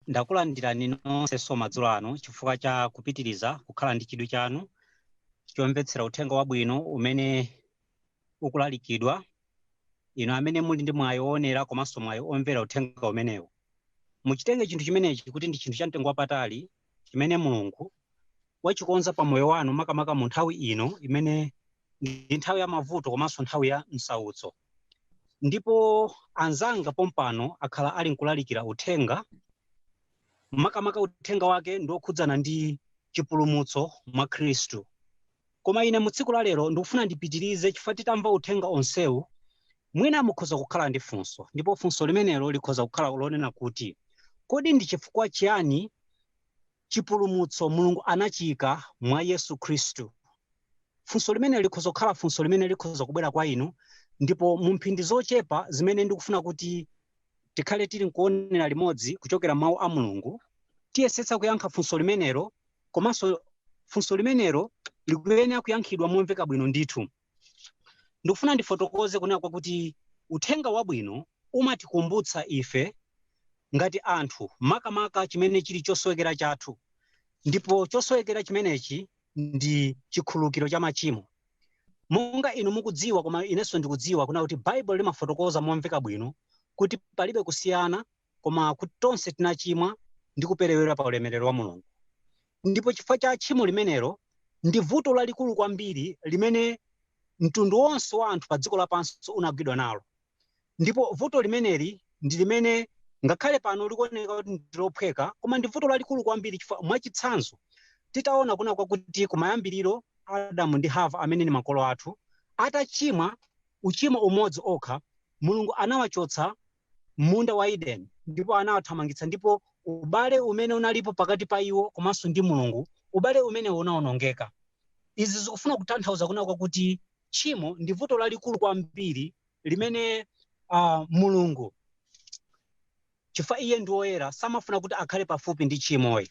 Ndakulandirani nonse nso madzulo ano chifukwa cha kupitiriza kukhala ndi chidwi chanu chomvetsera uthenga wabwino umene ukulalikidwa, inu amene muli ndi mwayi woonera komanso mwayi omvera uthenga umenewu. Muchitenge chinthu chimenechi kuti ndi chinthu chamtengo wapatali chimene Mulungu wachikonza pa moyo wanu makamaka mu nthawi ino imene ndi nthawi ya mavuto komanso nthawi ya msautso. Ndipo anzanga pompano akhala ali nkulalikira uthenga makamaka uthenga wake ndi wokhudzana ndi chipulumutso mwa Khristu. Koma ine mu tsiku la lero ndikufuna ndipitirize chifukwa titamva uthenga onsewu, mwina mukhoza kukhala ndi funso, ndipo funso limenelo likhoza kukhala lonena kuti, Kodi ndi chifukwa chiyani chipulumutso Mulungu anachiika mwa Yesu Khristu? Funso limene likhoza kukhala funso limene likhoza kubwera kwa inu, ndipo mu mphindi zochepa zimene ndikufuna kuti tikhale tili nkuonera limodzi kuchokera m'Mawu a Mulungu, tiyesetsa kuyankha funso limenelo komanso funso limenelo likuyenera kuyankhidwa momveka bwino ndithu ndikufuna ndifotokoze kunena kwakuti uthenga wabwino umatikumbutsa ife ngati anthu makamaka chimene chili chosowekera chathu ndipo chosowekera chimenechi ndi chikhululukiro cha machimo monga inu mukudziwa koma inenso ndikudziwa kunena kuti baibulo limafotokoza momveka bwino kuti palibe kusiyana koma kuti tonse tinachimwa ndi kuperewera pa ulemerero wa mulungu ndipo chifukwa cha tchimo limenelo ndi vuto lalikulu kwambiri limene mtundu wonse wa anthu pa dziko lapansi unagwidwa nalo ndipo vuto limeneli ndi limene ngakhale pano likuoneka kuti ndilophweka koma ndi vuto lalikulu kwambiri chifukwa mwachitsanzo titaona kunena kwakuti kumayambiriro adamu ndi hava amene ni makolo athu atachimwa uchimo umodzi wokha mulungu anawachotsa m'munda wa Edeni ndipo anawathamangitsa ndipo ubale umene unalipo pakati pa iwo komanso ndi Mulungu, ubale umenewo unawonongeka. Izi zikufuna kutanthauza kunena kwakuti tchimo ndi vuto lalikulu kwambiri limene ah, Mulungu chifukwa iye ndi woyera samafuna kuti akhale pafupi ndi tchimoyi.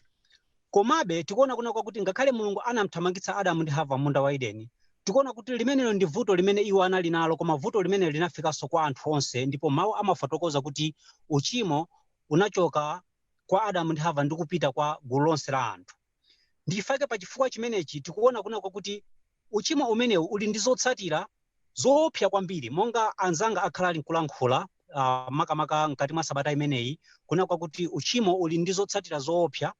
Komabe, tikuona kunena kwakuti ngakhale Mulungu anamthamangitsa Adamu ndi Hava m'munda wa Edeni, tikuona kuti limenelo ndi vuto limene iwo anali nalo koma vuto limeneli linafikanso kwa anthu onse ndipo Mawu amafotokoza kuti uchimo unachoka kwa Adamu ndi Hava ndi kupita kwa gulu lonse la anthu. Ndi chifukwa chake pa chifukwa chimenechi tikuona kunena kwakuti uchimo umenewu uli ndi zotsatira zoopsa kwambiri monga anzanga akhala ali nkulankhula uh, makamaka mkati mwa sabata imeneyi kuna kwakuti uchimo uli ndi zotsatira zoopsa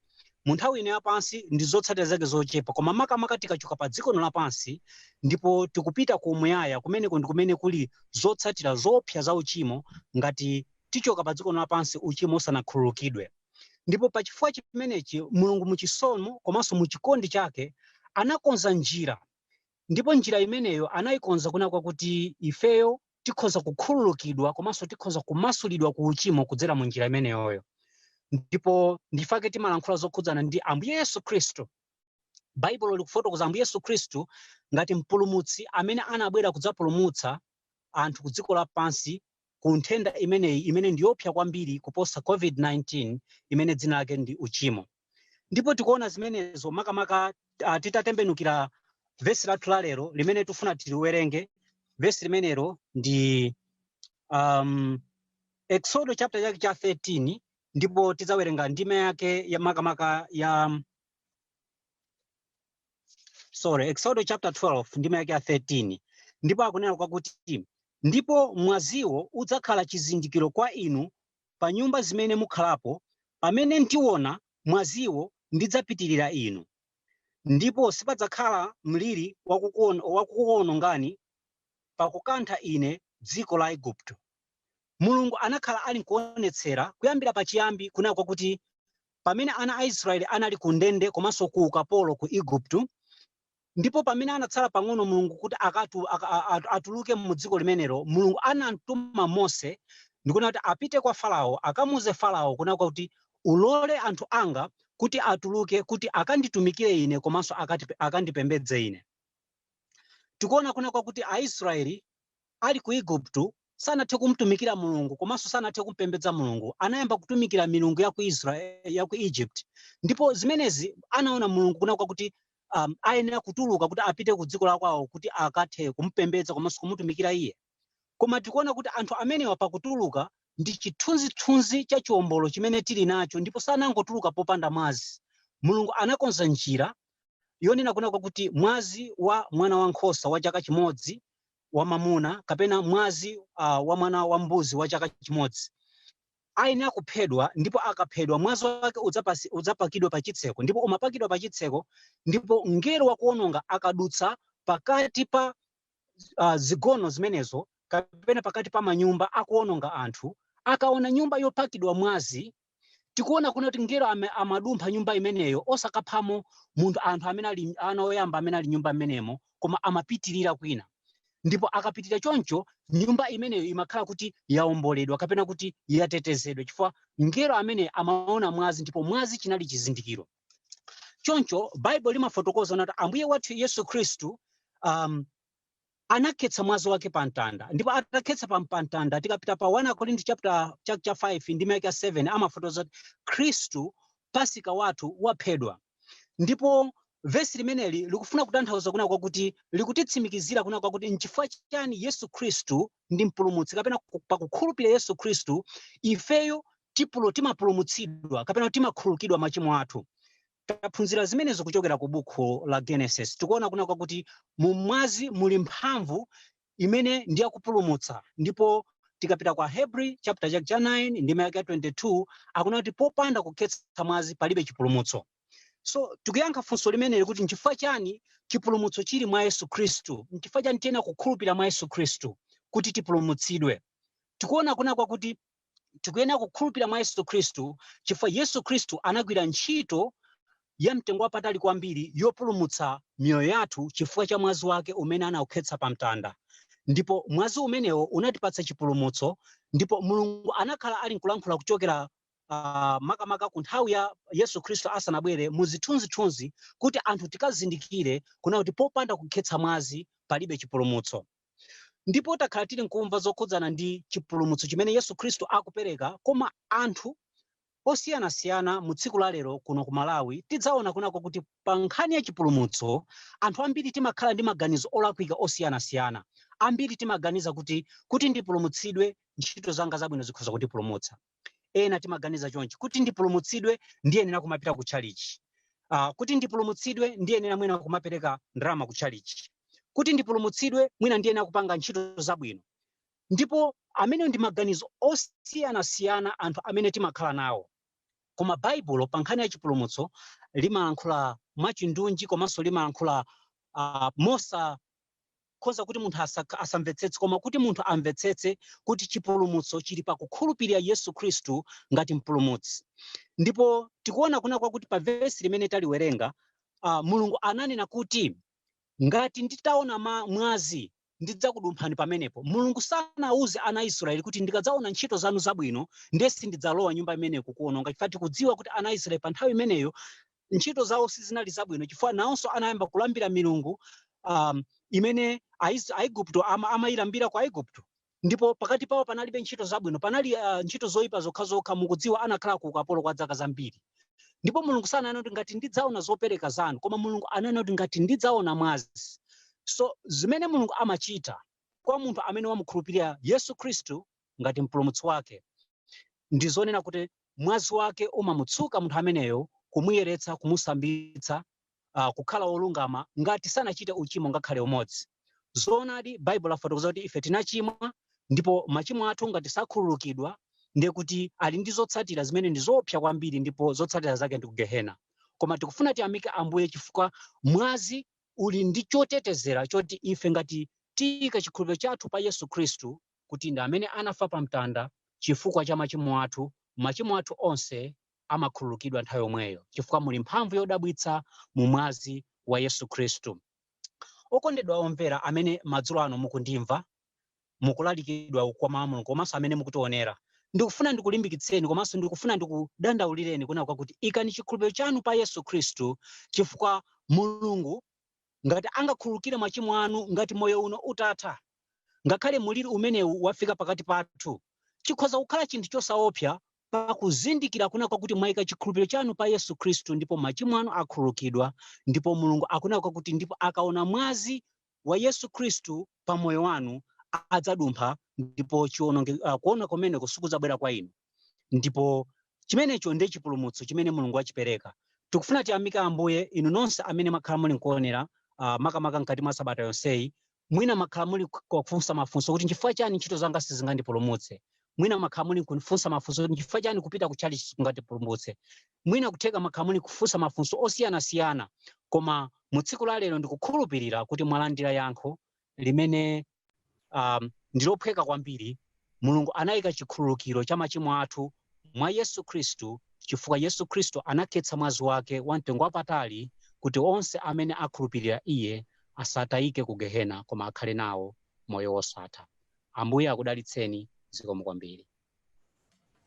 mu nthawi ino yapansi ndi zotsatira zake zochepa koma makamaka tikachoka pa dziko lino lapansi ndipo tikupita ku umuyaya kumeneko ndi kumene kuli zotsatira zoopsa za uchimo ngati tichoka pa dziko lino lapansi uchimo usanakhululukidwe ndipo pa chifukwa chimenechi mulungu muchisomo komanso muchikondi chake anakonza njira Ndipo njira imeneyo anayikonza kuna kwakuti ifeyo tikhoza kukhululukidwa komanso tikhoza kumasulidwa ku uchimo kudzera mu njira imeneyoyo. Ndipo ndifake timalankhula zokhudzana ndi Ambuye Yesu Khristu. Baibulo likufotokoza Ambuye Yesu Khristu ngati mpulumutsi amene anabwera kudzapulumutsa anthu ku dziko lapansi ku nthenda imeneyi imene ndi yoopsa kwambiri kuposa COVID-19 imene dzina lake ndi uchimo. Ndipo tikuona zimenezo makamaka ah, titatembenukira vesi lathu la lero limene tifuna tiliwerenge. Vesi limenelo ndi um, Exodo chapter chake cha 13 ndipo tidzawerenga ndime yake ya makamaka ya sorry exodo chapter 12 ndime yake ya 13 ndipo akunena kwakuti ndipo mwaziwo udzakhala chizindikiro kwa inu pa nyumba zimene mukhalapo pamene ndiona mwaziwo ndidzapitirira inu ndipo sipadzakhala mliri wakukuon- wakukuwonongani pakukantha ine dziko la Igupto mulungu anakhala ali nkuonetsera kuyambira pachiyambi kunena kwakuti pamene ana a Israeli anali ku ndende komanso ku ukapolo ku Igupto, ndipo pamene anatsala pang'ono Mulungu kuti akatu, aka, a- a- atuluke mu dziko limenelo, Mulungu anamtuma Mose ndikunena kuti apite kwa Farao akamuuze Farao kuna kwakuti ulole anthu anga kuti atuluke kuti akanditumikire ine komanso akati, akandipembedze ine. Tikuona kuna kwakuti Aisraeli ali ku Igupto, sanathe kumtumikira Mulungu komanso sanathe kumpembedza Mulungu. Anayamba kutumikira milungu ya ku Israel, ya ku Egypt. Ndipo zimenezi anaona Mulungu kuna kwakuti um, ayenera kutuluka kuti apite ku dziko la kwawo kuti akathe kumpembedza komanso kumutumikira iye. Koma tikuona kuti anthu amenewa pakutuluka ndi chithunzithunzi cha chiwombolo chimene tili nacho ndipo sanangotuluka popanda mwazi. Mulungu anakonza njira yonena kuna kwakuti mwazi wa mwana wa nkhosa wa chaka chimodzi wamamuna kapena mwazi uh, wa mwana wa mbuzi wa chaka chimodzi ayenera kuphedwa ndipo akaphedwa mwazi wake udzapasi- udzapakidwa pa chitseko ndipo umapakidwa pa chitseko ndipo mngelo wakuononga akadutsa pakati pa uh, zigono zimenezo kapena pakati pa manyumba akuononga anthu akaona nyumba yopakidwa mwazi tikuona kuna kuti mngelo ame- amadumpha nyumba imeneyo osakaphamo munthu anthu amene ali ana oyamba amene ali nyumba imenemo koma amapitirira kwina ndipo akapitirira choncho nyumba imeneyo imakhala kuti yaomboledwa kapena kuti yatetezedwa chifukwa mngelo amene amaona mwazi ndipo mwazi chinali chizindikiro choncho baibulo limafotokoza kuna kuti ambuye wathu yesu khristu um, anakhetsa mwazi wake pa mtanda ndipo atakhetsa pa pa mtanda tikapita pa 1 akorinto chapter cha, cha 5 ndime yake ya 7 amafotokoza kuti khristu pasika wathu waphedwa ndipo vesi limeneli likufuna kutanthauza kuna kwakuti likutitsimikizira kuna kwakuti nchifukwa chani yesu khristu ndi mpulumutsi kapena ku- pakukhulupirira yesu khristu ifeyo tipulo timapulumutsidwa kapena timakhululukidwa machimo athu Taphunzira zimenezo kuchokera ku bukhu la Genesis. Tikuona kuna kwakuti mu mwazi muli mphamvu imene ndi yakupulumutsa ndipo tikapita kwa Hebri chapter chake cha 9 ndime yake ya 22 akuna kuti popanda kukhetsa mwazi palibe chipulumutso. So tikuyankha funso limeneli kuti nchifukwa chani chipulumutso chili mwa Yesu Khristu? Nchifukwa chani tiyenera kukhulupirira mwa Yesu Khristu kuti tipulumutsidwe? Tikuona kuna kwakuti tikuyenera kukhulupira mwa Yesu Khristu chifukwa Yesu Khristu anagwira ntchito ya mtengo wapatali kwambiri yopulumutsa miyoyo yathu chifukwa cha mwazi wake umene anaukhetsa pa mtanda ndipo mwazi umenewo unatipatsa chipulumutso ndipo mulungu anakhala ali nkulankhula kuchokera uh, makamaka ku nthawi ya yesu khristu asanabwere mu zithunzithunzi kuti anthu tikazindikire kuna kuti popanda kukhetsa mwazi palibe chipulumutso ndipo takhala tili nkumva zokhudzana ndi chipulumutso chimene Yesu Khristu akupereka koma anthu osiyanasiyana mu tsiku la lero kuno ku Malawi tidzaona kuna kwakuti pa nkhani ya chipulumutso anthu ambiri timakhala ndi maganizo olakwika osiyanasiyana ambiri timaganiza kuti kuti ndipulumutsidwe ntchito zanga zabwino zikhoza kutipulumutsa ena timaganiza chonchi kuti ndipulumutsidwe ndiyenera kumapita ku chalichi uh, kuti ndipulumutsidwe ndiyenera mwina kumapereka ndalama ku chalichi kuti ndipulumutsidwe mwina ndiyenera kupanga ntchito zabwino ndipo amene ndi maganizo osiyanasiyana anthu amene timakhala nawo koma baibulo pa nkhani ya chipulumutso limalankhula mwachindunji komanso limalankhula uh, mosa khoza kuti munthu asamvetsetse, koma kuti munthu amvetsetse kuti chipulumutso chili pakukhulupilira Yesu Khristu ngati mpulumutsi. Ndipo tikuona kuna kwakuti pa vesi limene taliwerenga, uh, Mulungu ananena kuti ngati nditaona mwazi ndidzakudumphani pamenepo. Mulungu sanauze ana Israeli kuti ndikadzaona ntchito zanu zabwino ndiye sindidzalowa nyumba imeneyo kukuononga. Chifukwa tikudziwa kuti ana Israeli pa nthawi imeneyo ntchito zawo sizinali zabwino chifukwa nawonso anayamba kulambira milungu um, imene Ais- aigupto ama, amayilambira ku aigupto ndipo pakati pawo panalibe ntchito zabwino panali uh, ntchito zoyipa zokhazokha mukudziwa anakhala ku ukapolo kwa zaka zambiri ndipo mulungu sananena kuti ngati ndidzaona zopereka zanu koma mulungu ananena kuti ngati ndidzaona mwazi so zimene mulungu amachita kwa munthu amene wamukhulupirira yesu khristu ngati Mpulumutsi wake, ndi zonena kuti mwazi wake umamutsuka munthu ameneyo, kumuyeretsa, kumusambitsa, uh, kukhala wolungama ngati sanachite uchimo ngakhale umodzi. Zoonadi, Baibulo yafotokoza kuti ife tinachimwa ndipo machimo athu ngati sakhululukidwa ndiye kuti ali ndi zotsatira zimene ndi zoopsa kwambiri ndipo zotsatira zake ndi kugehena. Koma tikufuna tiyamike Ambuye chifukwa mwazi uli ndi chotetezera choti ife ngati tiyika chikhulupiriro chathu pa Yesu Khristu kuti ndi amene anafa pa mtanda chifukwa cha machimo athu, machimo athu onse amakhululukidwa nthawi yomweyo chifukwa muli mphamvu yodabwitsa mu mwazi wa Yesu Khristu. Okondedwa omvera amene madzulo ano mukundimva mukulalikidwa kwa mawu a Mulungu komanso amene mukutionera, ndikufuna ndikulimbikitseni komanso ndikufuna ndikudandaulireni kunena kwakuti ikani chikhulupiriro chanu pa Yesu Khristu chifukwa Mulungu ngati angakhululukire machimo anu ngati moyo uno utatha, Ngakhale mliri umenewu wafika pakati pathu, chikhoza kukhala chinthu chosaopsa pakuzindikira kunena kwakuti mwaika chikhulupiriro chanu pa Yesu Khristu ndipo machimo anu akhululukidwa ndipo Mulungu akunena kwakuti ndipo akaona mwazi wa Yesu Khristu pa moyo wanu adzadumpha ndipo chio-, uh, kuonongeka kumeneko sikudzabwera kwa inu. ndipo chimenecho ndiye chipulumutso chimene mulungu wachipereka tikufuna tiyamike ambuye inu nonse amene mwakhala muli nkuonera uh, makamaka mkati mwa sabata yonseyi mwina mwakhala muli kufunsa mafunso kuti nchifukwa chani ntchito zanga sizingandipulumutse mwina mwakhala muli kufunsa mafunso kuti nchifukwa chani kupita ku tchalitchi sikungandipulumutse mwina kutheka mwakhala muli kufunsa mafunso osiyanasiyana koma mu tsiku la lero ndikukhulupirira kuti mwalandira yankho limene um, ndi lophweka kwambiri mulungu anayika chikhululukiro cha machimo athu mwa yesu khristu chifukwa yesu khristu anakhetsa mwazi wake wa mtengo wapatali kuti onse amene akhulupirira iye asatayike ku gehena koma akhale nawo moyo wosatha ambuye akudalitseni zikomo kwambiri